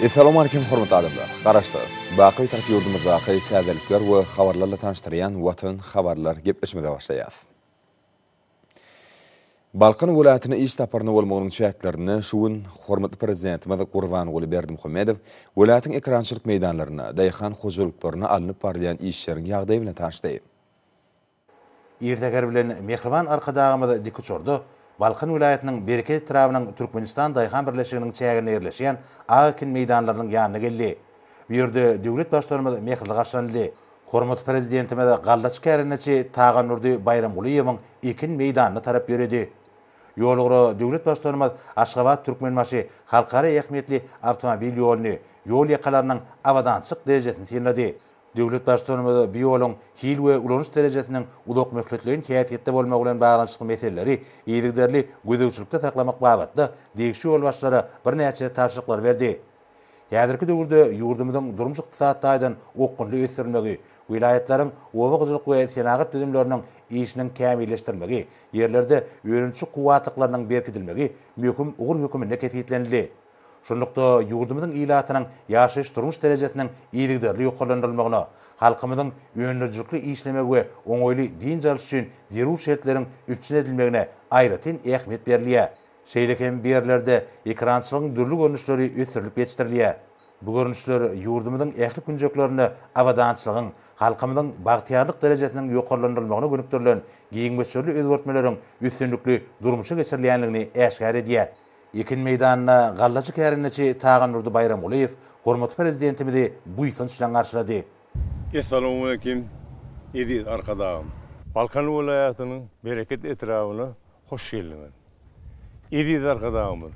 Essalamu Aleýkum hormatly adamlar! Garaşsyz, baky Bitarap ýurdumyzdaky täzelikler we habarlarla tanyşdyrýan Watan habarlar gepleşmege başlaýas. Balkan welaýatyna iş saparynda bolmagynyň çäklerinde şu gün hormatly Prezidentimiz Gurbanguly Berdimuhamedow welaýatyň ekerançylyk meýdanlarynda, daýhan hojalyklarynda alnyp barylýan işleriň ýagdaýy bilen tanyşdy. Ir säher bilen mähriban Arkadagymyz dikuçarda Balkan welaýatynyň Berke etrabynyň Türkmenistan daýhan birleşiginiň çäginde ýerleşýän ak ekin meýdanlarynyň ýanyna geldi. Bu ýerde döwlet Baştutanymyz mähirli garşylandy. Hormatly Prezidentimiz gallaçy kärendeçi Tagandurdy Baýramgulyýewiň ekin meýdanyna tarap ýöredi. Ýolugra döwlet Baştutanymyz Aşgabat-Türkmenbaşy halkara ähmiýetli awtomobil ýoluny, ýol ýakalarynyň abadançylyk derejesini synlady. Döwlet Baştutanymyz bu ýoluň hil we ulanyş derejesiniň uzakmöhletleýin häsiýetde bolmagy bilen baglanyşykly meseleleri yzygiderli gözegçilikde saklamak babatda degişli ýolbaşçylara birnäçe tabşyryklary berdi. Häzirki döwürde ýurdumyzyň durmuş-ykdysady taýdan okgunly ösdürilmegi, welaýatlaryň oba hojalyk we senagat düzümleriniň işiniň kämilleşdirilmegi, ýerlerde önümçi kuwwatlyklarynyň berkidilmegi möhüm ugur höküminde kesgitlenildi. Şunlukda, ýurdumyzyň ilatynyň ýaşaýyş-durmuş derejesiniň yzygiderli ýokarlandyrylmagyna, halkymyzyň öndürijilikli işlemegi we oňaýly dynç alyş üçin zerur şertleriň üpjün edilmegine aýratyn ähmiýet berilýär. Şeýle hem bu ýerlerde ekerançylygyň dürli görnüşleri ösdürilip ýetişdirilýär. Bu görnüşler ýurdumyzyň ähli künjeklerinde abadançylygyň, halkymyzyň bagtyýarlyk derejesiniň ýokarlandyrylmagyna gönükdirilen giň möçberli özgertmeleriň üstünlikli durmuşa geçirilýändigini äşgär edýär. Ekin meýdanynda gallaçy kärendeçi Taganurdy Baýramgulyýew hormatly Prezidentimizi buýsanç bilen garşylady. Essalamualeýkim, eziz Arkadagym! Balkan welaýatynyň Bereket etrabyna hoş geldiňiz! Eziz Arkadagymyz,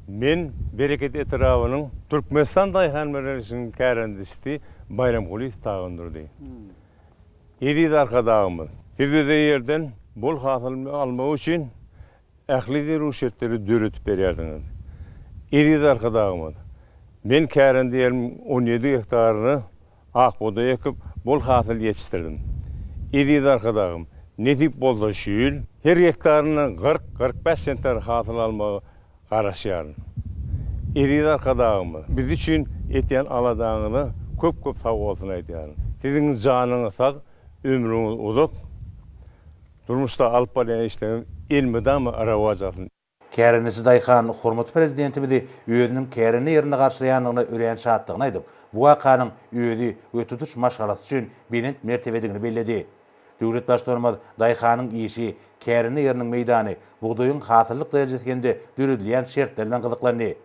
men Bereket etrabynyň Türkmenistan daýhan birleşiginiň kärendesisi Baýram Kulyýew Tagandurdy. Eziz Arkadagymyz, siz bize ýerden bol hasyl almak üçin ähli zerur şertleri döredip berýärsiňiz. Eziz Arkadagymyz, men kärendäniň on ýedi gektaryny Ak bugdaý ekip, bol hasyl ýetişdirdim. Eziz Arkadagym, nesip bolsa şu ýyl her gektaryndan kyrk-kyrk bäş sentner hasyl almagy garaşýaryn. Eziz Arkadagymyz, biz üçin etýän aladaňyza köp-köp sag bolsun aýdýaryn. Siziň janyňyz sag, ömrüňiz uzak, durmuşda alyp barýan işleriňiz elmydama rowaç alsyn! Kärendeçi daýhan hormatly Prezidentimizi özüniň kärende ýerinde garşylaýandygyna örän şatdygyny aýdyp, bu wakanyň özi we tutuş maşgalasy üçin belent mertebedigini belledi. Döwlet Baştutanymyz daýhanyň işi, kärende ýeriniň meýdany, bugdaýyň hasyllyk derejesi hem-de döredilýän şertler bilen gyzyklandy.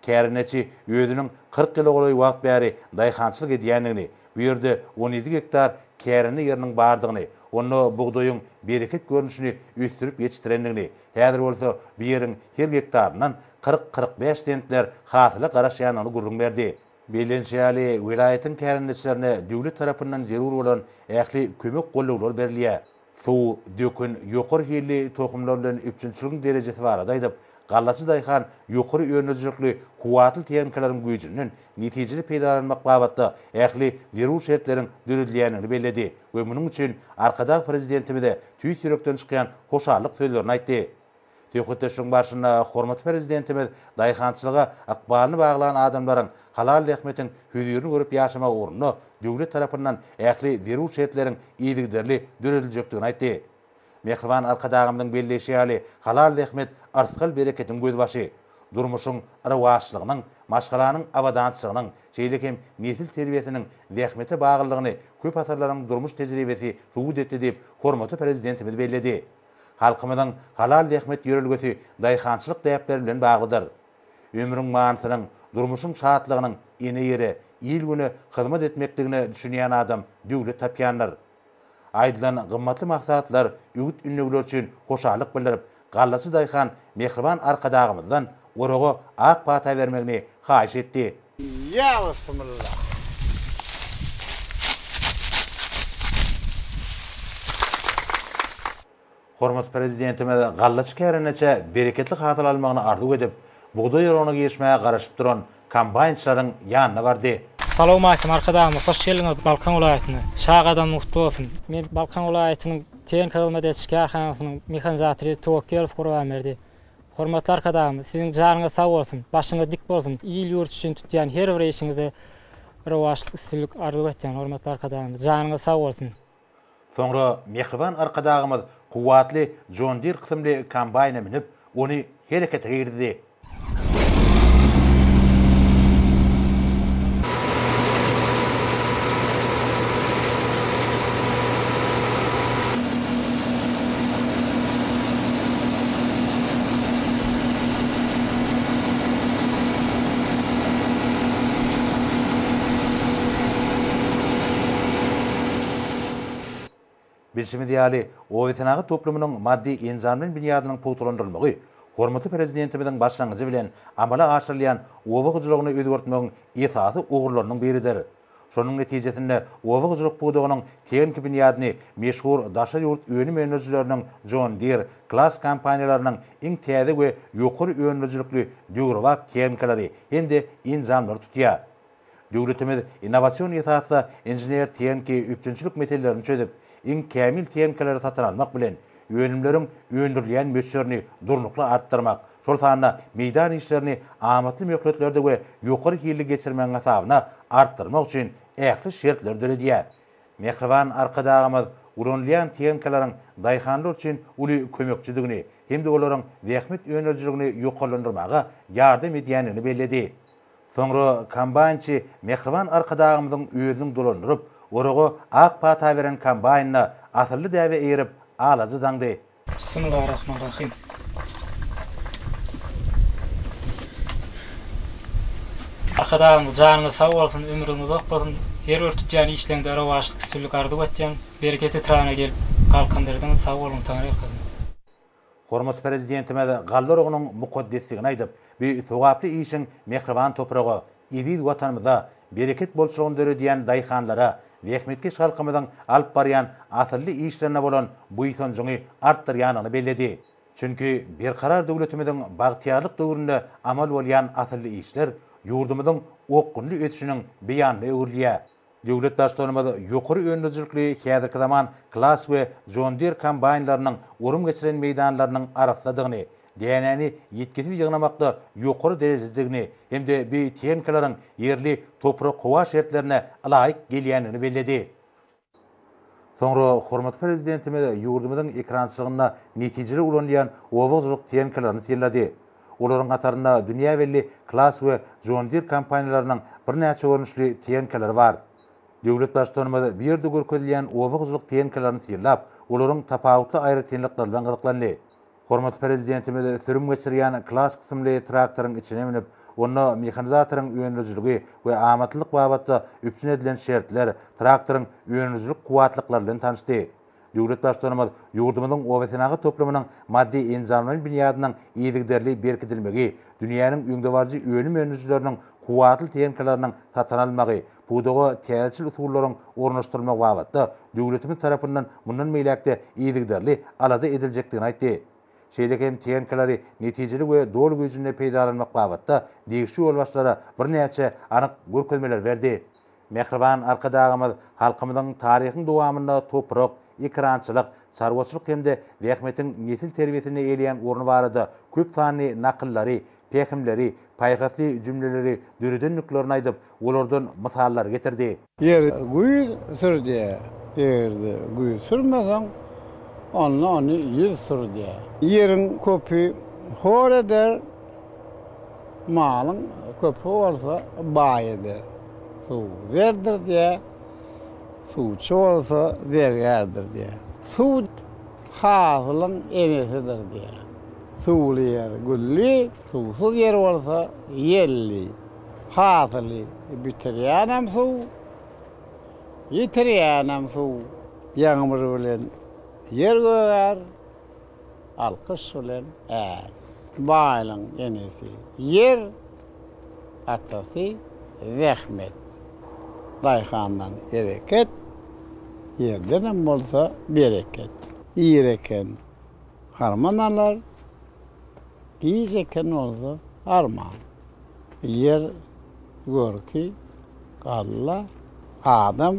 Kärendeçi özüniň kyrk ýyla golaý wagt bäri daýhançylyk edýändigini, bu ýerde on ýedi gektar kärende ýeriniň bardygyny, onda bugdaýyň bereket görnüşini ösdürip ýetişdirendigini, häzir bolsa bu ýeriň her gektaryndan kyrk-kyrk bäş sentner hasyla garaşýandygyny gürrüň berdi. Bellenişi ýaly, welaýatyň kärendeçilerine döwlet tarapyndan zerur bolan ähli kömek-gollaglar berilýär. Suw döken ýokary hilli tohumlar bilen üpjünçiligiň derejesi barada aýdyp, gallaçy daýhan ýokary önüdijlikli kuwwatly tehnikalaryň güýjünden netijeli peýdalanmak babatda ähli zerur şertleriň döredilýändigini belledi we munuň üçin Arkadag Prezidentimize tüýs ýürekden çykýan hoşallyk sözlerini aýtdy. Söhbetdeşligiň barşynda hormatly Prezidentimiz daýhançylyga ykbalyny baglan adamlaryň halal zähmetiň hözirini görüp ýaşamagy ugrunda döwlet tarapyndan ähli zerur şertleriň yzygiderli dörediljekdigini aýtdy. Mähriban Arkadagymyzyň belleýşi ýaly, halal zähmet yrsgal-bereketiň gözbaşy, durmuşyň rowaçlygynyň, maşgalanyň abadançylygynyň, şeýle hem nesil terbiýesiniň zähmete baglylygyny köp asyrlaryň durmuş tejribesi subut etdi diýip, hormatly Prezidentimiz belledi. Halkymyzyň halal zähmet ýörelgesi daýhançylyk däpleri bilen baglydyr. Ömrüň manysynyň, durmuşyň şatlygynyň ene-ýere, il-güne hyzmat etmekdigine düşünýän adam döwlet tapýandyr. Aýdylan gymmatly maslahatlar, öwüt-ündegiler üçin hoşallyk bildirip, gallaçy daýhan Mähriban Arkadagymyzdan Oraga ak pata bermegini haýyş etdi. Ýa bismillah! Hormatly Prezidentimiz galla çikärendeçe bereketli hasyl almagyny arzuw edip, bugdaý oragyna girişmäge garaşyp duran kombaýnçylaryň ýanyna bardy. Salawmalikim Arkadagymyz hoş geldiňiz Balkan welaýatyna. Şa gadamyň gutly bolsun. Men Balkan welaýatynyň Tehnikahyzmat ediş kärhanasynyň mehanizatory Towakkelow Gurbanberdi. Hormatly Arkadagymyz, Siziň janyňyz sag bolsun, başyňyz dik bolsun! Il-ýurt üçin tutýan her bir işiňizde rowaçlyk, üstünlik arzuw etýän, hormatly Arkadagymyz! Janyňyz sag bolsun! Soňra mähriban Arkadagymyz kuwwatly John Deere kysymly kombaýna münüp, ony herekete girizdi. Bilşimiz ýaly, obasenagat toplumynyň maddy-enjamly binýadynyň pugtalandyrylmagy hormatly Prezidentimiziň başlangyjy bilen amala aşyrylýan oba hojalygyny özgertmegiň esasy ugurlarynyň biridir. Şonuň netijesinde oba hojalyk pudagynyň tehniki binýadyny meşhur daşary ýurt önüm öndürijileriniň John Deere, Claas kompaniýalarynyň iň täze we ýokary öndürijilikli döwrebap tehnikalary hem-de enjamlary tutýar. Döwletimiz innowasion esasda inžener-tehniki üpjünçilik meselelerini çözüp, iň kämil tehnikalary satyn almak bilen, Önümleriň öndürilýän möçberini durnukly artdyrmak, şol sanda meýdan işlerini amatly möhletlerde we ýokary hilli geçirmegiň hasabyna artdyrmak üçin ähli şertleri döredýär. Mähriban Arkadagymyz ulanylýan tehnikalaryň daýhanlar üçin uly kömekçidigini hem-de olaryň zähmet önerijiligini ýokarlandyrmaga ýardam edýändigini belledi. Soňra kombaýnçy mähriban Arkadagymyzyň özüniň dolandyryp, oraga ak pata beren kombaýnyna asylly däbe eýerip, alaja daňdy. Bismillarahmanrahym. Arkadagymyz janyňyz sag bolsun, ömrüň uzak bolsun. Her bir tutýan işleňde rowaçlyk, üstünlik arzuw etýän. Bereket etrabynda gelip galkyndyrdyňyz, sag boluň, Taňryýalkasyn. Hormatly Prezidentimiz galla urugynyň mukaddesligini aýdyp, bu sogaply işiň mähriban topraga, eziz Watanymyza bereket bolçulygyny döredýän daýhanlara, zähmetkeş halkymyzyň alyp barýan asylly işlerine bolan buýsanjyňy artdyrýandygyny belledi. Çünki Berkarar döwletimiziň bagtyýarlyk döwründe amal bolýan asylly işler ýurdumyzyň okgunly ösüşiniň beýanyna öwrülýär. Döwlet Baştutanymyz ýokary önümijilikli häzirki zaman Claas we John Deere kombaýnlarynyň orun geçiren meýdanlarynyň arassadygyny, dänäni ýitgisiz ýygnamakda ýokary derejededigini hem-de bi tehnikalaryň ýerli toprak-howa şertlerine ylaýyk gelýändigini belledi. Soňra hormatly Prezidentimiz ýurdumyzyň ekerançylygynda netijeli ulanylýan oba hojalyk tehnikalaryny synlady. Olaryň hatarynda dünýä belli Claas we John Deere kompaniýalarynyň birnäçe görnüşli tehnikalary bar. Döwlet Baştutanymyz bu ýerde görkezilýän oba hojalyk tehnikalaryny synlap, olaryň tapawutly aýratynlyklary bilen gyzyklandy. Hormatly Prezidentimiz sürüm geçirýän Class kysymly traktoryň içine münüp, onda mehanizatoryň öndürijiligi we amatlylyk babatda üpjün edilen şertler, traktoryň öndürijilik kuwwatlyklary bilen tanyşdy. Döwlet Baştutanymyz ýurdumyzyň obasenagat toplumynyň maddy-enjamlaýyn binýadynyň yzygiderli berkidilmegi, dünýäniň öňdebaryjy önüm öndürijileriniň kuwwatly tehnikalarynyň satyn alynmagy, Pudaga täzeçil usullaryň ornaşdyrylmagy babatda döwletimiz tarapyndan mundan beýläk-de yzygiderli alada ediljekdigini aýtdy. Şeýle hem TNK-lary netijeli we doly güýjünde peýdalanmak babatda degişli ýolbaşçylara birnäçe anyk görkezmeleri berdi. Mähriban Arkadagymyz halkymyzyň taryhyň dowamynda toprak, ekerançylyk, çarwaçylyk hem-de zähmetiň nesil terbiýesinde eýleýän orny barada köp sanly nakyllary, pähimleri, paýhasly jümleleri döredendiklerini aýdyp, olardan mysallar getirdi. Ýer güýz sür diýýär. Eger-de güýz sürmeseň, onda ony ýüz sür diýýär. Ýeriň köpi hor eder, malyň köpi bolsa baý eder. Suw zerdir diýýär, suwçy bolsa zergärdir diýýär. Suw hasylyň enesidir diýýär. Suwly ýer gülli, suwsuz ýer bolsa ýelli. Hasyly bitirýänem suw, ýitirýänem suw. Ýagmyr bilen ýer gögär, alkyş bilen är. Baýlyň enesi ýer, atasy zähmet. Daýhandan hereket, ýerdenem bolsa bereket. Ir eken. Harman alar, giç eken bolsa harman. Ýer görki, galla, adam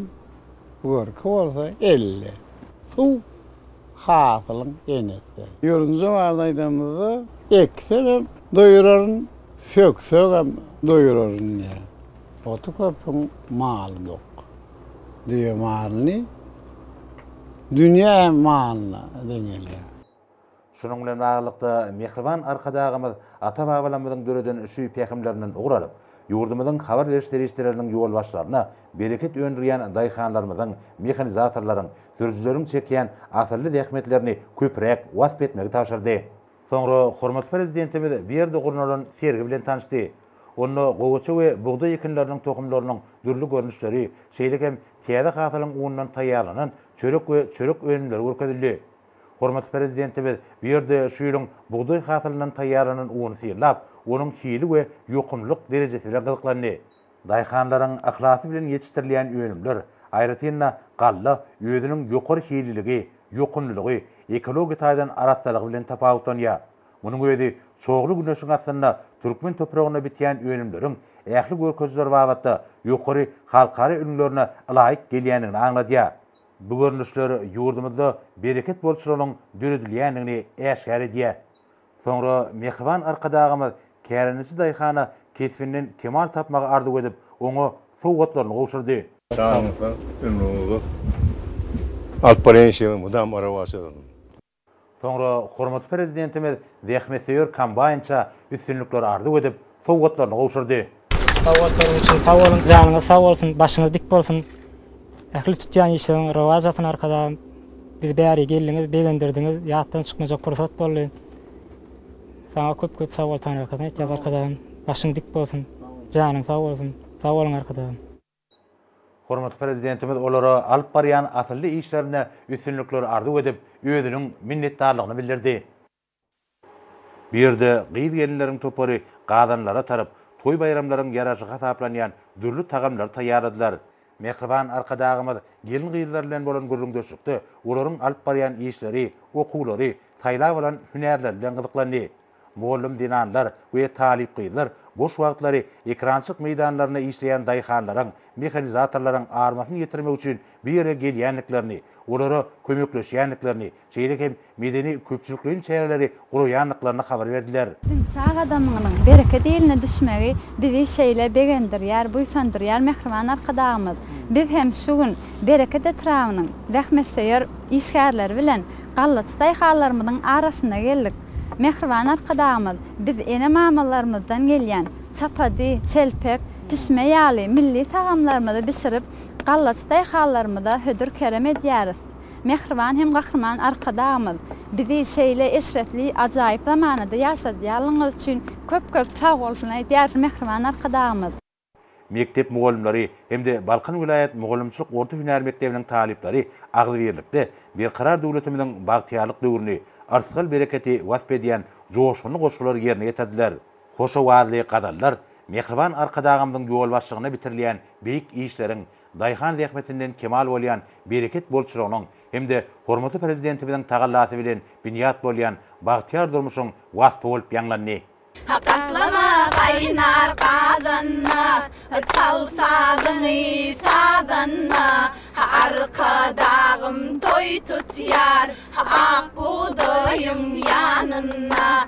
görki bolsa elle. Suw, hasylyň enesi. Ýörünje barada aýdanymyzda, Eksem hem doýuraryn, söksegem doýuraryn diýýär. Oty köpüň maly dok. Düýe malyny dünýe malyna deň elýär. Şunuň bilen baglylykda, mähriban Arkadagymyz ata-babalarymyzyň döreden şu pähimlerinden ugur alyp, ýurdumyzyň habar beriş serişdeleriniň ýolbaşçylaryna bereket öndürýän daýhanlarymyzyň, mehanizatorlaryň, sürüjileriň çekýän asylly zähmetlerini köpräk wasp etmegi tabşyrdy. Soňra hormatly Prezidentimiz bu ýerde gurnalan sergi bilen tanyşdy. Onda gowaça we bugdaý ekinleriniň tohumlarynyň dürli görnüşleri, şeýle hem täze hasylyň unundan taýýarlanan çörek we çörek önümleri görkezildi. Hormatly Prezidentimiz bu ýerde şu ýylyň bugdaý hasylyndan taýýarlanan uny synlap, onuň hili we ýokumlylyk derejesi bilen gyzyklandy. Daýhanlaryň yhlasy bilen ýetişdirilýän önümler, aýratyn-da, galla özüniň ýokary hililigi, ýokumlylygy, ekologiýa taýdan arassalygy bilen tapawutlanýar. Munuň özi çogly güneşiň astynda türkmen topragynda bitýän önümleriň ähli görkezijiler babatda ýokary halkara ülňülerine ylaýyk gelýändigini aňladýar. Bu görnüşler ýurdumyzda bereket bolçulygynyň döredilýändigini äşgär edýär. Soňra mähriban Arkadagymyz kärendeçi daýhana kesbinden kemal tapmagy arzuw edip, oňa sowgatlaryny gowşurdy. Janyňyz sag, ömrüňiz uzak. Alyp barýan işleriňiz mydama rowaç alsyn! Soňra hormatly Prezidentimiz zähmetsöýer kombaýnça üstünlikleri arzuw edip, sowgatlaryny gowşurdy. Sowgatlaryň üçin sag boluň, janyňyz sag bolsun, başyňyz dik bolsun, ähli tutýan işleriň rowaç alsyn Arkadagym, bizi bäri geldiňiz, begendirdiňiz, ýatdan çykmajak pursat boldy. Saňa köp-köp sag bol Taňry Arkadagym aýtýas Arkadagym, başyň dik bolsun, janyň sag bolsun, sag boluň Arkadagym. Hormatly Prezidentimiz olara alyp barýan asylly işlerinde üstünlikler arzuw edip, özüniň minnetdarlygyny bildirdi. Bu ýerde gyz-gelinleriň topary gazanlara tarap, toý-baýramlaryň ýaraşy hasaplanýan dürli tagamlary taýýarladylar. Mähriban Arkadagymyz gelin-gyzlar bilen bolan gürrüňdeşlikde olaryň alyp barýan işleri, okuwlary, saýlap alan hünärleri bilen gyzyklandy. Mugallym zenanlar we talyp gyzlar boş wagtlary ekrançyk meýdanlarynda işleýän daýhanlaryň, mehanizatorlaryň armasyny ýetirmek üçin bu ýere gelýändiklerini, olara kömekleşýändiklerini, şeýle hem medeni-köpçülikleýin çäreleri guraýandyklaryny habar berdiler. Diňşä gadamyňyň bereket iline düşmegi bizi şeýle begendirýär, buýsandyrýar, mähriban Arkadagymyz, Biz hem şu gün Bereket etrabynyň zähmetsöýer işgärleri bilen gallaçy daýhanlarymyzyň arasyna geldik. Mähriban Arkadagymyz biz ene-mamalarymyzdan gelýän çapady, çelpek, pişme ýaly milli tagamlarymyzy bişirip, gallaçy daýhanlarymyza hödür-kerem edýäris. Mähriban hem Gahryman Arkadagymyz, bizi şeýle eşretli, ajaýyp zamanada ýaşadýanlygyňyz üçin köp-köp sag bolsun aýdýarys, Mähriban Arkadagymyz! Mekdep mugallymlary hem-de Balkan welaýat mugallymçylyk orta hünär mekdebiniň talyplary agzybirlikde Berkarar döwletimiziň bagtyýarlyk döwrüni, yrsgal-bereketi wasp edýän joşgunly goşgulary ýerine ýetirdiler. Hoş owazly gazallar Mähriban Arkadagymyzyň ýolbaşçylygyna bitirilýän beýik işleriň, Daýhan zähmetinden kemal bolýan bereket bolçulygynyň hem-de hormatly Prezidentimiziň tagallasy bilen binýat bolýan bagtyýar durmuşyň waspy bolup ýaňlandy. Gatlama gaýnar gazanda, Çal sazyňy sazanda, Arkadagym toý tutýar, Ak bugdaýyň ýanynda.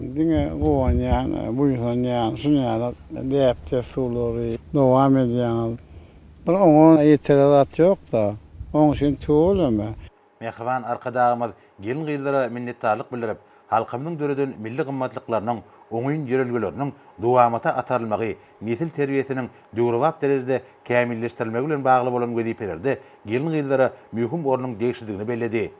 Diňe guwanýan, buýsanýan, şunýaly däp-dessurlary dowam edýäňiz. Bir oňa ýetere zat ýok-da. Oň üçin tüweleme. Mähriban Arkadagymyz gelin-gyzlara minnetdarlyk bildirip, halkymyzyň döreden milli gymmatlyklarynyň oňyn ýörelgeleriniň dowamata atarylmagy, nesil terbiýesiniň döwrebap derejede kämilleşdirilmegi bilen bagly bolan wezipelerde gelin-gyzlara möhüm ornuň degişlidigini belledi.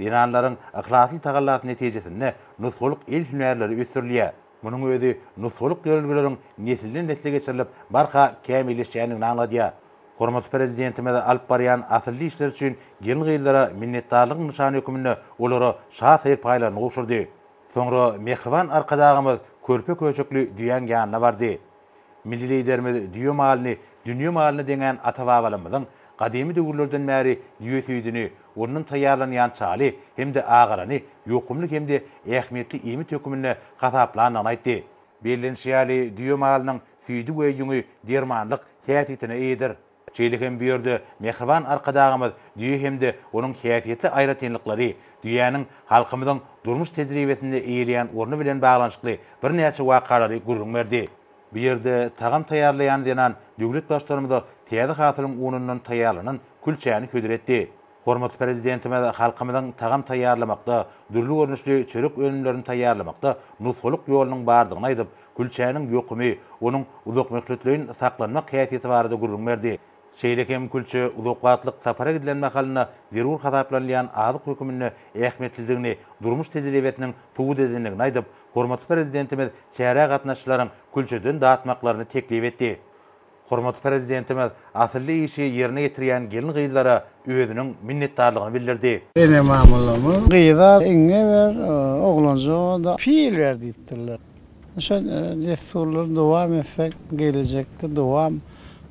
Zenanlaryň yhlasly tagallasy netijesinde nusgalyk el hünärleri ösdürilýär. Munuň özi nusgalyk ýörelgeleriň nesilden-nesle geçirilip, barha kämilleşýändigini aňladýar. Hormatly Prezidentimiz alyp barýan asylly işleri üçin gelin-gyzlara minnetdarlygyň nyşany hökmünde olara şa serpaýlaryny gowşurdy. Soňra mähriban Arkadagymyz körpe-köşekli düýäň ýanyna bardy. Milli Liderimiz düýe malyny dünýe malyna deňän ata-babalarymyzyň gadymy döwürlerden bäri düýe süýdüni, ondan taýýarlanýan çaly hem-de agarany ýokumly hem-de ähmiýetli iýmit hökmünde hasaplandygyny aýtdy. Bellenişi ýaly, düýe malynyň süýdi we ýüňi dermanlyk häsiýetine eýedir. Şeýle hem bu ýerde mähriban Arkadagymyz düýe hem-de onuň häsiýetli aýratynlyklary, düýäniň halkymyzyň durmuş tejribesinde eýeleýän orny bilen baglanyşykly birnäçe wakalary gürrüň berdi. Bu ýerde tagam taýýarlaýan zenan döwlet Baştutanymyza täze hasylyň unundan taýýarlanan külçäni hödür etdi. Hormatly Prezidentimiz halkymyzyň tagam taýýarlamakda, dürli görnüşli çörek önümlerini taýýarlamakda nusgalyk ýolunyň bardygyny aýdyp, külçäniň ýokumy, onuň uzakmöhletleýin saklanmak häsiýeti barada gürrüň berdi. Şeýle hem külçe uzak wagtlyk sapara gidilen mahalynda zerur hasaplanylýan azyk höküminde ähmiýetlidigini durmuş tejribesiniň subut edendigini aýdyp, hormatly Prezidentimiz çärä gatnaşyjylaryň külçeden datmaklaryny teklip etdi. Hormatly Prezidentimiz asylly işi ýerine ýetirýän gelin-gyzlara özüniň minnetdarlygyny bildirdi. Ene-mamalarymyz, Gyza iňňe ber, oglanjyga-da pil ber diýipdirler. Şu dessurlary dowam etsek, gelejekde dowam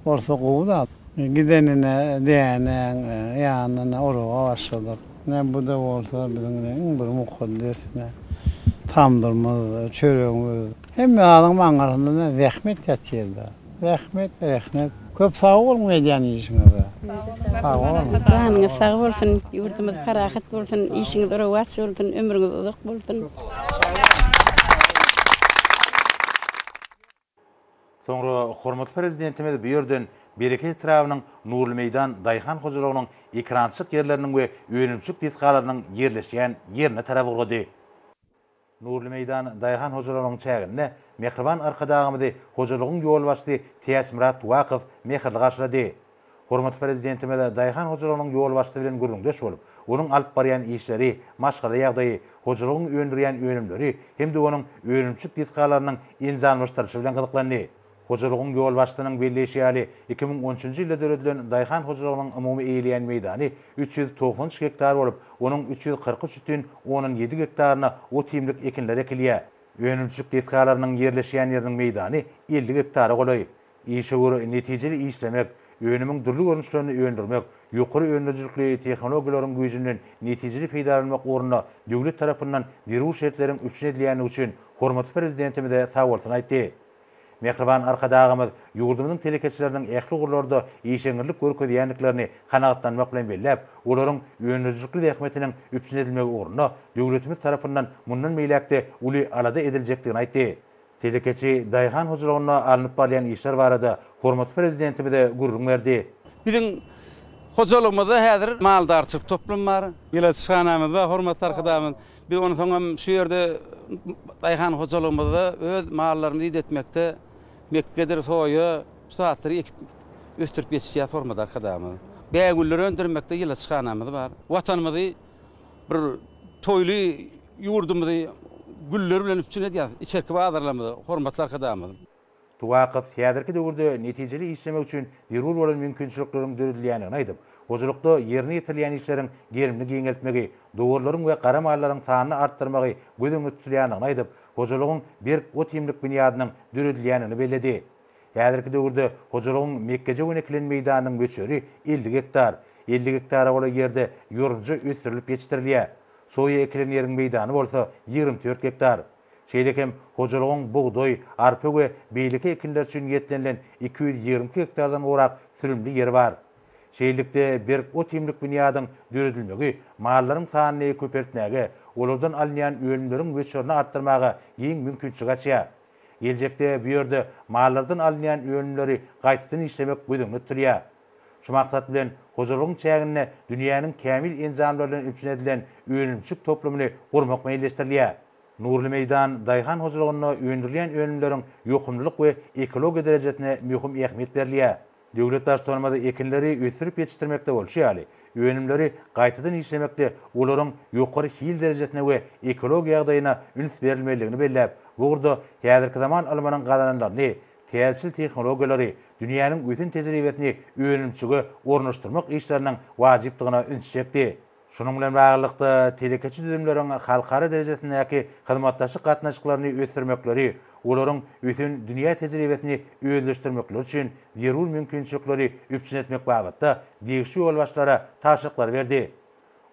bolsa gowy-da. Gidenine dänäň ýanyna oraga başladyk. Ine, bu-da bolsa biziň iň bir mukaddes tamdyrymyz, çöregimiz. Hemme zadyň maňňasyndada zähmet ýatyrda. Zähmet rehnet. Köp sag boluň edýän işiňizde. Sag boluň. Janyňyz sag bolsun, ýurdumyz parahat bolsun, işiňiz rowaç bolsun, ömrüňiz uzak bolsun. Soňra hormatly Prezidentimiz bu ýerden Bereket etrabynyň Nurly meýdan daýhan hojalygynyň ekerançylyk ýerleriniň we önümçilik desgalarynyň ýerleşýän ýerine tarap ugrady. Nurly meýdan daýhan hojalygynyň çäginde mähriban Arkadagymyzy hojalygyň ýolbaşçysy Täçmyrat Tuwakow mähirli garşylady. Hormatly Prezidentimiz daýhan hojalygynyň ýolbaşçysy bilen gürrüňdeş bolup, onuň alyp barýan işleri, maşgala ýagdaýy, hojalygyň öndürýän önümleri hem-de onuň önümçilik desgalarynyň enjamlaşdyrylyşy bilen gyzyklandy. Hojalygyň ýolbaşçysynyň belleýşi ýaly, iki müň on üçünji ýylda döredilen daýhan hojalygynyň umumy eýeleýän meýdany üç ýüz togsan üç gektar bolup, onuň üç ýüz kyrk üç bütin ondan ýedi gektaryna ot-iýmlik ekinler ekilýär. Önümçilik desgalarynyň ýerleşýän ýeriniň meýdany elli gektara golaý. Işewür netijeli işlemek, önümiň dürli görnüşlerini öndürmek, ýokary öndürijilikli tehnologiýalaryň güýjünden netijeli peýdalanmak ugrunda döwlet tarapyndan zerur şertleriň üpjün edilýändigi üçin hormatly Prezidentimize sagbolsun aýtdy. Mähriban Arkadagymyz ýurdumyzyň telekeçileriniň ähli ugurlarda işeňňirlik görkezýändiklerini kanagatlanmak bilen belläp, olaryň öndürijilikli zähmetiniň üpjün edilmegi ugrunda döwletimiz tarapyndan mundan beýläk-de uly alada ediljekdigini aýtdy. Telekeçi daýhan hojalygynda alnyp barylýan işler barada hormatly Prezidentimize gürrüň berdi. Biziň hojalygymyzda häzir maldarçylyk toplumy bar. Ilaçhanamyz bar, hormatly Arkadagymyz. Biz onsoň hem şu ýerde daýhan hojalygymyzda öz mallarymyzy idetmekde mekgedir, soýa, şu zatlary ekip ösdürip ýetişdirýär Hormat Arkadagymyz. Bägüller öndürmekde ilaçhanamyz bar. Watanymyzy bir toýly ýurdumyzy güller bilen üpjün edýär içerki bazarlarymyzy Hormatly Arkadagymyz. Tuwakow häzirki döwürde netijeli işlemek üçin zerur bolan mümkinçilikleriň döredilýändigini aýdyp, hojalykda ýerine ýetirilýän işleriň gerimini giňeltmegi, dowarlaryň we gara mallaryň sanyny artdyrmagy göz öňünde tutulýandygyny aýdyp, hojalygyň berk ot-iýmlik binýadynyň döredilýändigini belledi. Häzirki döwürde hojalygyň mekgeje we ekilen meýdanynyň möçberi elli gektar, elli gektara golaý ýerde ýorunja ösdürilip ýetişdirilýär. Soýa ekilen ýeriň meýdany bolsa ýigrimi dört gektar. Şeýle hem hojalygyň bugdaý, arpa we beýleki ekinler üçin niýetlenilen iki ýüz ýigrimi iki gektardan gowrak sürümli ýeri bar. Şeýlelikde, berk ot-iýmlik binýadyň döredilmegi mallaryň sanyny köpeltmäge, olardan alynýan önümleriň möçberini artdyrmaga giň mümkinçilik açýar. Geljekde bu ýerde mallardan alynýan önümleri gaýtadan işlemek göz öňünde tutulýar. Şu maksat bilen, hojalygyň çäginde dünýäniň kämil enjamlary bilen üpjün edilen önümçilik toplumyny gurmak meýilleşdirilýär. Nurly meýdan daýhan hojalygynda öndürilýän önümleriň ýokumlylyk we ekologiýa derejesine möhüm ähmiýet berilýär. Döwlet Baştutanymyz ekinleri ösdürip ýetişdirmekde bolşy ýaly, önümleri gaýtadan işlemekde olaryň ýokary hil derejesine we ekologiýa ýagdaýyna üns berilmelidigini belläp, bu ugurda häzirki zaman ylmynyň gazananlaryny täzeçil tehnologiýalary, dünýäniň ösen tejribesini önümçige ornaşdyrmak işleriniň wajypdygyna ünsi çekdi. Şunuň bilen baglylykda, telekeçi düzümleriň halkara derejesindäki hyzmatdaşlyk gatnaşyklaryny ösdürmekleri, olaryň ösen dünýä tejribesini özleşdirmekleri üçin zerur mümkinçilikleri üpjün etmek babatda degişli ýolbaşçylara tabşyryklary berdi.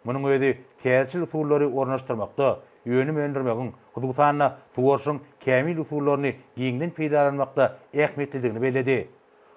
Munuň özi täzeçil usullary ornaşdyrmakda, önüm öndürmegiň, hususan-da, suwaryşyň kämil usullaryny giňden peýdalanmakda ähmiýetlidigini belledi.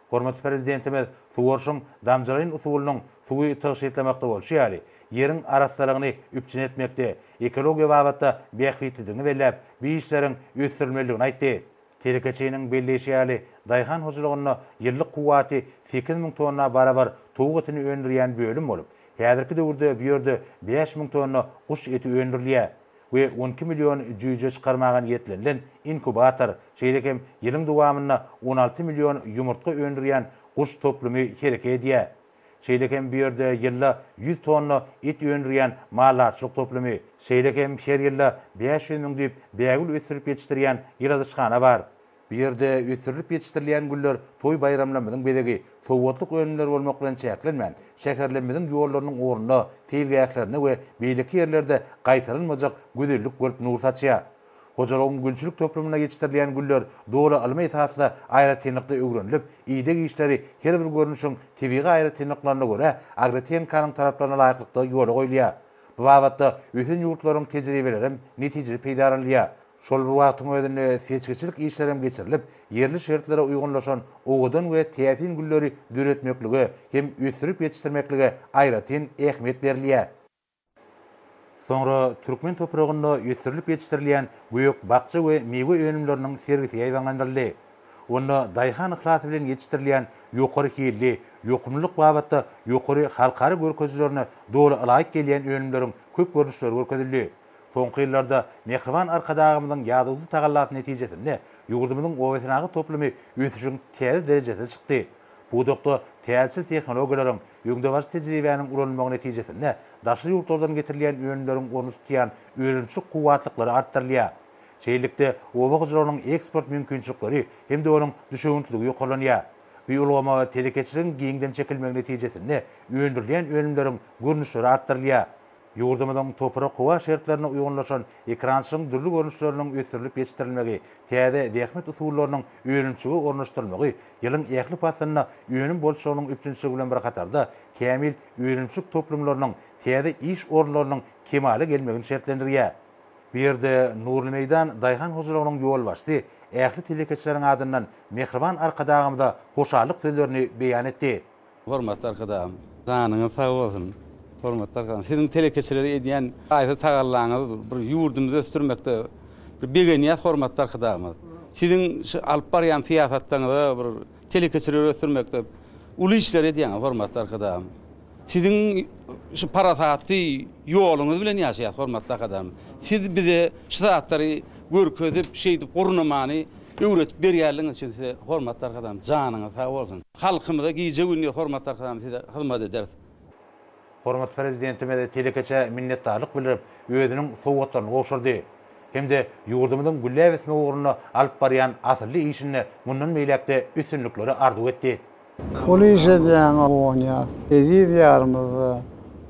Hormatly Prezidentimiz suwaryşyň damjalaýyn usulynyň suwy tygşytlamakda bolşy ýaly, ýeriň arassalygyny üpjün etmekde, ekologiýa babatda bähbitlidigini belläp, bu işleriň ösdürilmelidigini aýtdy. Telekeçiniň belleýşi ýaly, daýhan hojalygynda ýyllyk kuwwaty sekiz müň tonna barabar towuk etini öndürýän bölüm bolup, häzirki döwürde bu ýerde bäş müň tonna guş eti öndürilýär we on iki million jüýje çykarmaga niýetlenilen inkubator, şeýle hem ýylyň dowamynda on alty million ýumurtga öndürýän guş toplumy hereket edýär. Şeýle hem bu ýerde ýylda ýüz tonna et öndürýän maldarçylyk toplumy, şeýle hem her ýylda bäş ýüz müň düýp bägül ösdürip ýetişdirýän ýyladyşhana bar. Bu ýerde ösdürilip ýetişdirilýän güller toý-baýramlarymyzyň bezegi, sowgatlyk önümleri bolmak bilen çäklenmän, şäherlerimiziň ýollarynyň ugrunda, seýilgählerinde we beýleki ýerlerde gaýtalanmajak gözellik bolup nur saçýar. Hojalygyň gülçülik toplumynda ýetişdirilýän güller doly ylmy esasda aýratynlykda öwrenilip, ideg işleri her bir görnüşiň tebigy aýratynlyklaryna görä agrotehnikanyň talaplaryna laýyklykda ýola goýulýar. Bu babatda ösen ýurtlaryň tejribelerem netijeli peýdalanylýar. Şol bir wagtyň özünde seçgiçilik işlerem geçirilip, ýerli şertlere uýgunlaşan owadan we täsin gülleri döretmeklige hem ösdürip ýetişdirmeklige aýratyn ähmiýet berilýär. Soňra türkmen topragynda ösdürilip ýetişdirilýän gök-bakja we miwe önümleriniň sergisi ýaýbaňlandyryldy. Onda daýhan yhlasy bilen ýetişdirilýän ýokary hilli, ýokumlylyk babatda ýokary halkara görkezijilerine doly ylaýyk gelýän önümleriň köp görnüşleri görkezildi. Soňky ýyllarda mähriban Arkadagymyzyň ýadawsyz tagallasy netijesinde ýurdumyzyň obasenagat toplumy ösüşiň täze derejesine çykdy. Pudakda täzeçil tehnologiýalaryň, Öňdebaryjy tejribäniň ulanylmagy netijesinde daşary ýurtlardan getirilýän önümleriň orny tutýan önümçilik kuwwatlyklary artdyrylýar. Şeýlelikde, oba hojalygynyň eksport mümkinçilikleri hem-de onuň düşewüntliligi ýokarlanýar. Bu ulgama telekeçiligiň giňden çekilmegi netijesinde öndürilýän önümleriň görnüşleri artdyrylýar. Ýurdumyzyň toprak-howa şertlerine uýgunlaşan ekerançylygyň dürli görnüşleriniň ösdürilip ýetişdirilmegi, täze zähmet usullarynyň önümçilige ornaşdyrylmagy ýylyň ähli paslynda önüm bolçulygynyň üpjünçiligi bilen bir hatarda, kämil önümçilik toplumlarynyň, täze iş orunlarynyň kemala gelmegini şertlendirýär. Bu ýerde Nurly meýdan daýhan hojalygynyň ýolbaşçysy ähli telekeçileriň adyndan mähriban Arkadagymyza hoşallyk sözlerini beýan etdi. Hormatly Arkadagym, janyňyz sag bolsun! Hormatly Arkadagym, siziň telekeçilere edýän haýsy tagallaňyz bir ýurdumyzy ösdürmekde bir begenýäs hormatly Arkadagymyz. Siziň şu alyp barýan syýasatlaňyza bir telekeçileri ösdürmekde uly işler edýäňiz hormatly Arkadagym. Siziň şu parasatly ýoluňyz bilen ýaşaýas hormatly Arkadagym. Siz bize şu zatlary görkezip, şeýdip gurnamany öwredip berýänligiňiz üçin size hormatly Arkadagym janyňyz sag bolsun. Halkymyza gije gündiz hormat sarkadamyz size hyzmat ederis. Hormatly Prezidentimiz telekeçä minnetdarlyk bildirip, özüniň sowgatlaryny gowşurdy hem-de ýurdumyzyň gülläp ösmegi ugrunda alyp barýan asylly işinde mundan beýläk-de üstünlikleri arzuw etdi. Uly iş edýäňiz, guwanýas. Eziz Diýarymyzda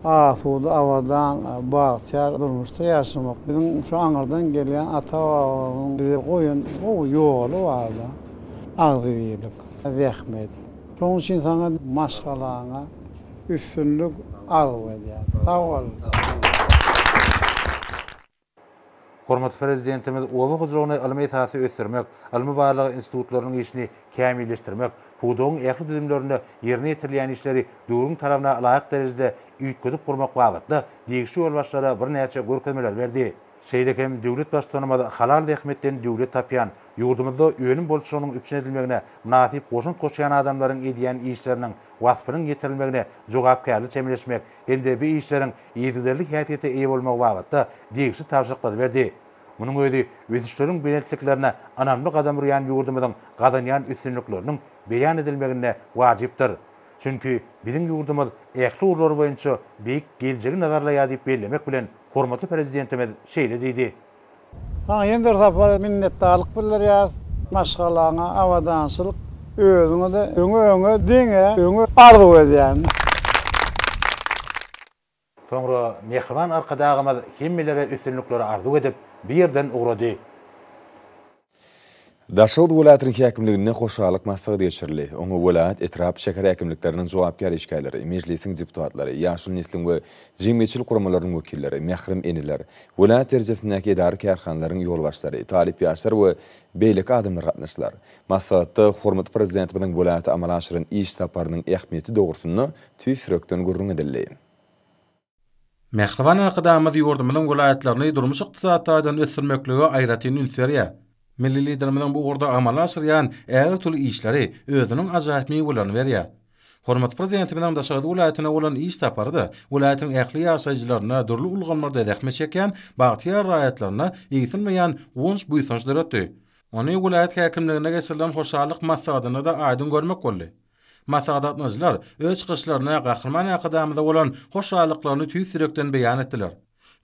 asuda, abadan, bagtyýar durmuşda ýaşamak biziň şu aňyrdan gelýän ata-babalarymyzyň bize goýan gowy ýoly bar-da. Agzybirlik. zähmet. Şoň üçin saňa maşgalaňa üstünlik arzuw edýän. Sag bol. Hormatly Prezidentimiz oba hojalygyny ylmy esasda ösdürmek, ylmy-barlag institutlarynyň işini kämilleşdirmek, pudagyň ähli düzümlerinde ýerine ýetirilýän işleri döwrüň talabyna laýyk derejede üýtgedip gurmak babatda degişli ýolbaşçylara birnäçe görkezmeler berdi. Şeýle hem döwlet Baştutanymyz halal zähmetden döwlet tapýan, ýurdumyzda önüm bolçulygynyň üpjün edilmegine mynasyp goşant goşýan adamlaryň edýän işleriniň waspynyň ýetirilmegine jogapkärli çemeleşmek hem-de bu işleriň yzygiderli häsiýete eýe bolmagy babatda degişli tabşyryklary berdi. Munuň özi ösüşleriň belentliklerine ynamly gadam urýan ýurdumyzyň gazanýan üstünlikleriniň beýan edilmeginde wajypdyr. Çünki biziň ýurdumyz ähli ugurlar boýunça beýik geljegi nazarlaýar diýip bellemek bilen, Hormatly Prezidentimiz şeýle diýdi. Saňa ýene bir sapar minnetdarlyk bildirýäris. Maşgalaňa abadançylyk, özüňe-de öňe, öňe, diňe öňe arzuw edýän. Soňra mähriban Arkadagymyz hemmelere üstünlikleri arzuw edip, bu ýerden ugrady. Daşoguz welaýatynyň häkimliginde hoşallyk maslahaty geçirildi. Oňa welaýat, etrap, şäher häkimlikleriniň jogapkär işgärleri, Mejlisiň deputatlary, ýaşuly nesliň we jemgyýetçilik guramalarynyň wekilleri, mährem eneler, welaýat derejesindäki edara-kärhanalaryň ýolbaşçylary, talyp ýaşlar we beýleki adamlar gatnaşdylar. Maslahatda hormatly Prezidentimiziň welaýata amala aşyran iş saparynyň ähmiýeti dogrusynda tüýs ýürekden gürrüň edildi. Mähriban Arkadagymyz ýurdumyzyň welaýatlaryny durmuş-ykdysady taýdan ösdürmeklige aýratyn üns berýär. Milli Liderimiziň bu ugurda amala aşyrýan ägirt uly işleri özüniň ajaýyp miwelerini berýär. Hormatly Prezidentimiziň Daşoguz welaýatyna bolan iş sapary-da welaýatyň ähli ýaşaýjylaryna dürli ulgamlarda zähmet çekýän bagtyýar raýatlaryna egsilmeýän guwanç-buýsanç döretdi. Ony welaýat häkimliginde geçirilen hoşallyk maslahatynda-da aýdyň görmek boldy. Maslahat gatnaşyjylar öz çykyşlarynda Gahryman Arkadagymyza bolan hoşallyklaryny tüýs ýürekden beýan etdiler.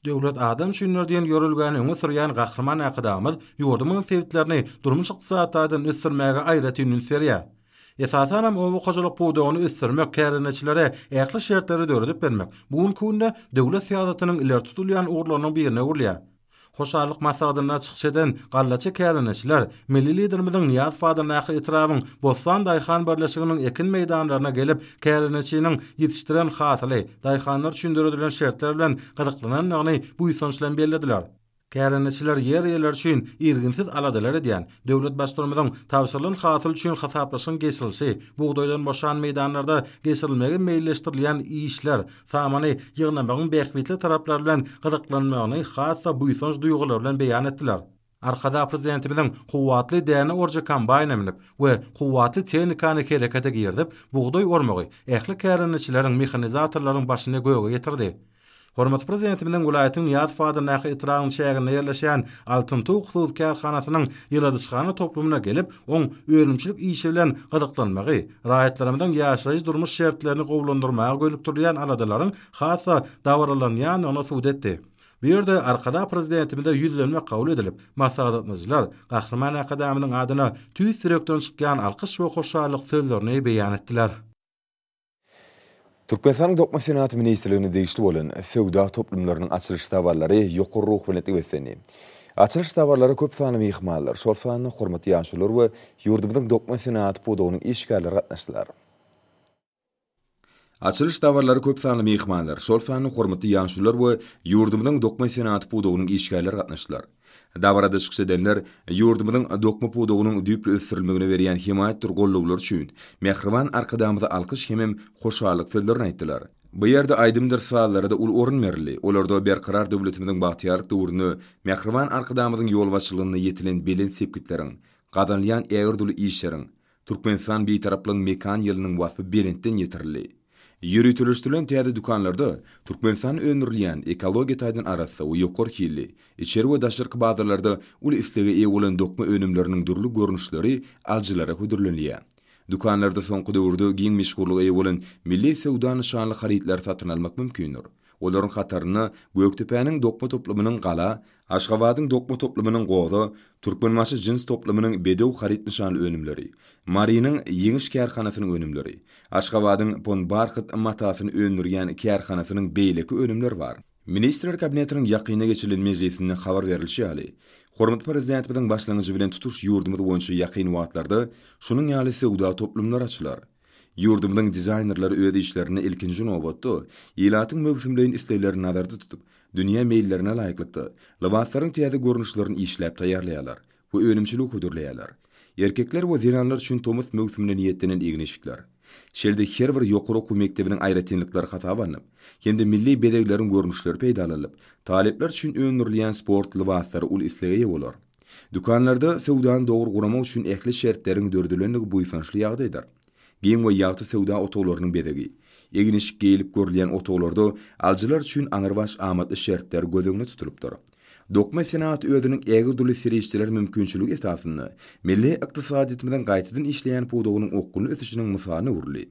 Döwlet adam üçindir diýen ýörelgäni öňe sürýän Gahryman Arkadagymyz ýurdumyzyň sebitlerini durmuş-ykdysady taýdan ösdürmäge aýratyn üns berýär. Esasan hem oba hojalyk pudagyny ösdürmek, kärendeçilere ähli şertleri döredip bermek bu günki günde döwlet syýasatynyň ileri tutulýan ugurlarynyň birine öwrülýär. Hoşallyk maslahatynda çykyş eden gallaçy kärendeçiler Milli Liderimiziň Nyýazow adyndaky etrabyň Bossan daýhan birleşiginiň ekin meýdanlaryna gelip, kärendeçiniň ýetişdiren hasyly, daýhanlar üçin döredilen şertler bilen gyzyklanandygyny buýsanç bilen bellediler. Kärendeçiler ýer eýeleri üçin irginsiz aladalar edýän, döwlet Baştutanymyzyň tabşyrylan hasyl üçin hasaplaşygyň geçirilişi, bugdaýdan boşan meýdanlarda geçirilmegi meýilleşdirilýän işler, Samany ýygnamagyň bähbitli taraplary bilen gyzyklanmagyny has-da buýsanç duýgulary bilen beýan etdiler. Arkadag Prezidentimiziň kuwwatly däne orjy kombaýna münüp we kuwwatly tehnikany herekete girizip, bugdaý ormagy ähli kärendeçileriň, mehanizatorlaryň başyny göge getirdi. Hormatly Prezidentimiziň welaýatyň Nyýazow adyndaky etrabyň çäginde ýerleşýän Altyn tug hususy kärhanasynyň ýyladyşhana toplumyna gelip, oň önümçilik işi bilen gyzyklanmagy, raýatlarymyzyň ýaşaýyş-durmuş şertlerini gowulandyrmaga gönükdirilýän aladalaryň has-da dabaralanýandygyny subut etdi. Bu ýerde Arkadag Prezidentimize ýüzlenme kabul edilip, maslahatlaşyjylar Gahryman Arkadagymyzyň adyna tüýs ýürekden çykýan alkyş we hoşallyk sözlerini beýan etdiler. Türkmenistanyň Dokma senagaty ministrligine degişli bolan söwda toplumlarynyň açylyş dabaraly ýokary ruhubelentlige beslendi. Açylyş dabaralara köp sanly myhmanlar, şol sanda hormatly ýaşulular we ýurdumyzyň dokma senagaty pudagynyň işgärleri gatnaşdylar. Açylyş dabaralara köp sanly myhmanlar, şol sanda hormatly ýaşulular we ýurdumyzyň dokma senagaty pudagynyň işgärleri gatnaşdylar. Dabarada çykyş edenler ýurdumyzyň dokma pudagynyň düýpli ösdürilmegine berýän hemaýatdyr gollawlary üçin mähriban Arkadagymyza alkyş hemem hoşallyk sözlerini aýtdylar. Bu ýerde aýdymdyr sazlara-da uly orun berildi, olarda Berkarar döwletimiziň bagtyýarlyk döwründe mähriban Arkadagymyzyň ýolbaşçylygynda ýetilen belent sepgitleriň, gazanylýan ägirt uly işleriň, Türkmenistan Bitaraplygyň mekan ýylynyň waspy belentden ýetirildi. Ýöriteleşdirilen täze dükanlarda Türkmenistanda öndürilýän, ekologiýa taýdan arassa we ýokary hilli, içeri we daşarky bazarlarda uly islege eýe bolan dokma önümleriniň dürli görnüşleri alyjylara hödürlenilýär. Dükanlarda soňky döwürde giň meşhurlyga eýe bolan milli söwda nyşanly harytlary satyn almak mümkindir. Olaryň hatarynda Gökdepäniň dokma toplumynyň Gala, Aşgabadyň dokma toplumynyň Goza, Türkmenbaşy jins toplumynyň Bedew haryt nyşanly önümleri, Marynyň Ýeňiş kärhanasynyň önümleri, Aşgabadyň Pon barhyt matasyny öndürýän kärhanasynyň beýleki önümleri bar. Ministrler Kabinetiniň ýakynda geçirilen mejlisinde habar berilişi ýaly, hormatly Prezidentimiziň başlangyjy bilen tutuş ýurdumyz boýunça ýakyn wagtlarda şunuň ýaly söwda toplumlary açylar. Ýurdumyzyň dizaýnerleri öz işlerinde ilkinji nobatda, ilatyň möwsümleýin isleglerini nazarda tutup, dünýä meýillerine laýyklykda, lybaslaryň täze görnüşlerini işläp taýýarlaýarlar we önümçiligi hödürleýärler. Erkekler we zenanlar üçin tomus möwsümine niýetlenen egin-eşikler, şeýle-de her bir ýokary okuw mekdebiniň aýratynlyklary hasaba alnyp hem-de milli bezegleriň görnüşleri peýdalanylyp, talyplar üçin öndürilýän sport lybaslary uly islega eýe bolar. Dükanlarda söwdany dogry guramak üçin ähli şertleriň dördülendigi buýsançly ýagdaýdyr. Giň we ýagty söwda otaglarynyň bezegi. Egin-eşik geýlip görülýän otaglarda alyjylar üçin aňrybaş amatly şertler göz öňünde tutulypdyr. Dokma senagaty özüniň ägirt uly serişdeler mümkinçiligi esasynda milli ykdysadyýetimiziň gaýtadan işleýän pudagynyň okgunly ösüşiniň mysalyna öwrüldi.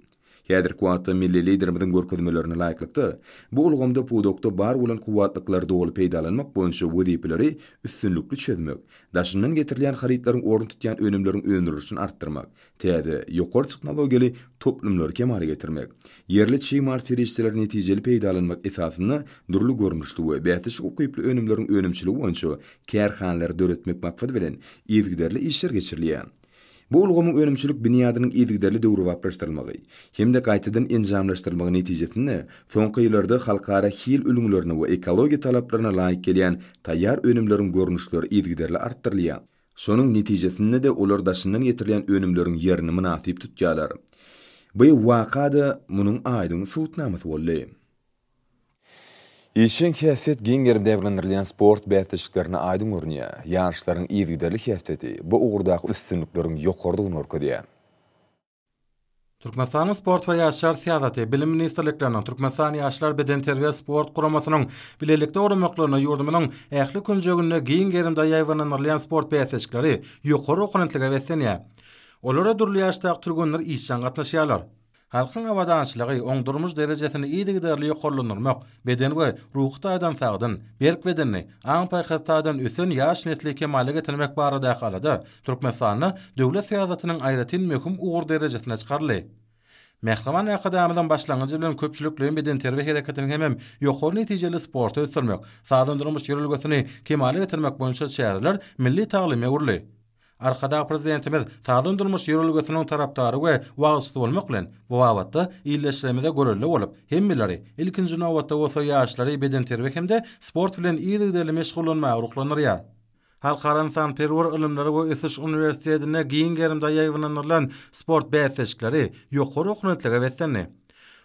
Häzirki wagtda milli Liderimiziň görkezmelerine laýyklykda, bu ulgamda pudakda bar bolan kuwwatlyklary doly peýdalanmak boýunça wezipeleri üstünlikli çözmek, daşyndan getirilýän harytlaryň ornuny tutýan önümleriň öndürilişini artdyrmak, täze, ýokary tehnologiýaly toplumlary kemala getirmek, ýerli çig mal serişdeleri netijeli peýdalanmak esasynda dürli görnüşli we bäsleşik ukyply önümleriň önümçiligi boýunça kärhanalary döretmek maksady bilen yzygiderli işler geçirilýär. Bu ulgamyň önümçilik binýadynyň yzygiderli döwrebaplaşdyrylmagy hem-de gaýtadan enjamlaşdyrylmagy netijesinde soňky ýyllarda halkara hil ülňülerine we ekologiýa talaplaryna laýyk gelýän taýýar önümleriň görnüşleri yzygiderli artdyrylýar. Şonuň netijesinde-de olar daşyndan getirilýän önümleriň ýerini mynasyp tutýarlar. Bu waka-da munuň aýdyň subutnamasy boldy. Işjeň häsiýet giň gerimi dabrandyrylan sport bäsleşiklerinde aýdyň görünýär. Ýaşlaryň yzygiderli häsiýeti bu ugurdaky üstünlikleriň ýokarydygyny görkezýär. Türkmenistanyň Sport we ýaşlar syýasaty, Bilim ministrlikleriniň, Türkmenistan Ýaşlar bedenterbiýe-sport guramasynyň bilelikde guramaklarynda ýurdumyzyň ähli künjeginde giň gerimde ýaýbaňlandyrylýan sport bäsleşikleri ýokary oponentlige beslenýär. Olara dürli ýaşdaky türgenler işjeň gatnaşýarlar. Halkyň abadançylygy, oňdurmuş derejesini yzygiderli ýokarlandyrmak, beden we ruhy taýdan sagdyn, berk bedenli, aň-paýhas taýdan ösen ýaş nesli kemala getirmek baradaky alada Türkmenistanda döwlet syýasatynyň aýratyn möhüm ugur derejesine çykaryldy. Mähriban Arkadagymyzyň başlangyjy bilen köpçülikleýin bedenterbiýe hereketini hemem ýokary netijeli sporty ösdürmek, sagdyn durmuş ýörelgesini kemala getirmek boýunça çäreler milli talyma öwrüldi. Arkadag Prezidentimiz sagdyn durmuş ýörelgesiniň tarapdary we wagyzçysy bolmak bilen, bu babatda ildeşlerimize görelde bolup, hemmeleri, ilkinji nobatda bolsa ýaşlary bedenterbiýe hem-de sport bilen yzygiderli meşgullanmaga ruhlandyrýar. Halkara ynsanperwer ylymlar we ösüş uniwersitetinde giň gerimde ýaýbaňlandyrylan sport bäsleşikleri ýokary okunetlige beslendi.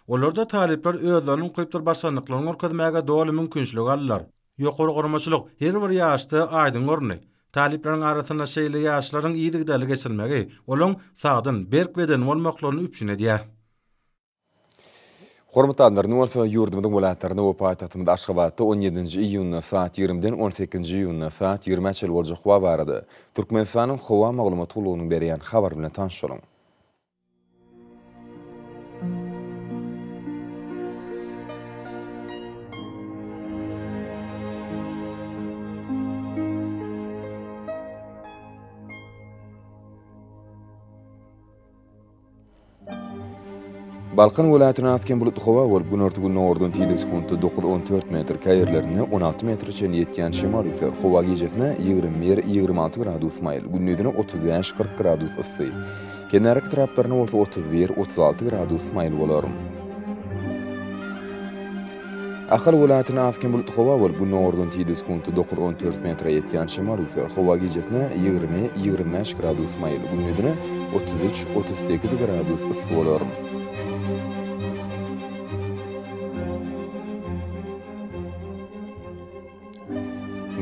Olarda talyplar özleriniň ukypdyr başarnyklaryny görkezmäge doly mümkinçilik aldylar. Ýokary guramaçylyk her bir ýaşda aýdyň göründi. Talyplaryň arasynda şeýle ýaryşlaryň yzygiderli geçirilmegi olaň sagdyn, berk bedenli bolmaklaryny üpjün edýär. Hormatly adamlar, indi bolsa ýurdumyzyň welaýatlarynda we paýtagtymyz Aşgabatda on ýedinji iýunda saat ýigrimiden on sekizinji iýunda saat ýigrimiä çenli boljak howa barada Türkmenistanyň Howa maglumat gullugynyň berýän habary bilen tanyş boluň. Balkan welaýatyna has kem bulutly howa bolup, günorta-gündogardan tizligi sekuntda dokuz-on dört metr, käýerlerinde on alty metre çenli ýetýän şemal üýtger. Howa gijesi ýigrimi bir, ýigrimi alty gradus maýyl, gündizine otuz bäş, kyrk gradus yssy. Kenarki taraplarynda bolsa otuz bir, otuz alty gradus maýyl bolar. Ahal welaýatynda az-kem bulutly howa bolup, gündogardan tizden sekunta dokuz, on dört metre ýetýän şemal üflär. Howa gijesine ýigrimi, ýigrimi bäş gradus maýyl, gündizine otuz üç, otuz sekiz gradus yssy bolar.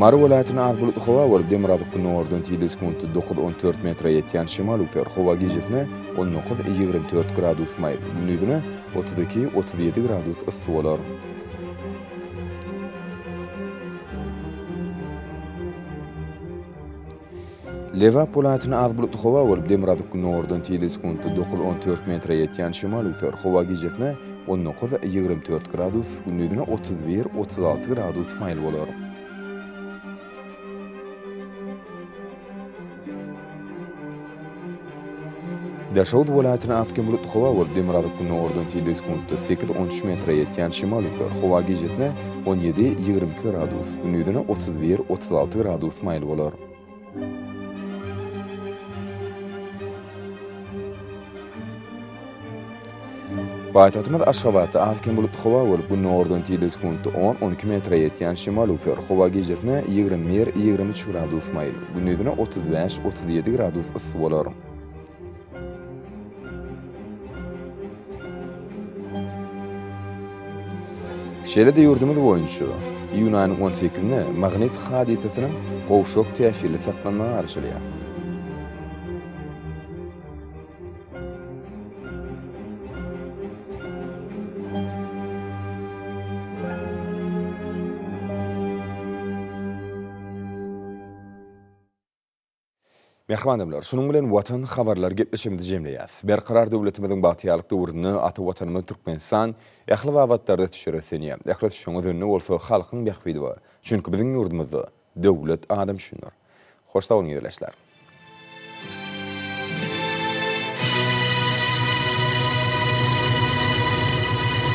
Mary welaýatyna az bulutly howa bolup, demirgazyk gündogardan tizligi sekuntda dokuz, on dört metre ýetýän şemal üflär. Howa gijesine on dokuz, ýigrimi dört gradus maýyp, gündizine otuz iki, otuz ýedi gradus yssy bolar. Lebap welaýatynda az bulutly howa bolup, demirgazyk gündogardan tizligi sekuntda dokuz-on dört metre ýetýän şemal öwser. Howa gijesine on dokuz-ýigrimi dört gradus, gündizine otuz bir-otuz alty gradus maýyl bolar. Daşoguz welaýatyna az bulutly howa bolup, demirgazyk gündogardan tilde sekuntda sekiz, on üç metre ýetýän şemal üflär. Howa gijesi on ýedi, ýigrimi iki gradus, gündizine otuz bir, otuz alty gradus maýyl bolar. Paýtagtymyz Aşgabatda az-kem bulutly howa bolup, günordan tizligi sekuntda on-on iki metre ýetýän şemal üflär. Howa gijesine ýigrimi bir, ýigrimi üç gradus maýyl, gündizine otuz bäş, otuz ýedi gradus yssy bolar. Şeýle-de ýurdumyz boýunça iýun aýynyň on sekizine magnit hadysasynyň gowşak täsirli saklanmagy garaşylýar. Mähriban adamlar, şunuň bilen Watan habarlary gepleşigimizi jemleýäs. Berkarar döwletimiziň bagtyýarlyk döwründe ata Watanymyz Türkmenistan ähli babatlarda ösüşe röslenýär. Ähli ösüşiň özünde bolsa halkyň bähbidi bar. Çünki biziň ýurdumyzda Döwlet adam üçindir. Hoş sag boluň ildeşler.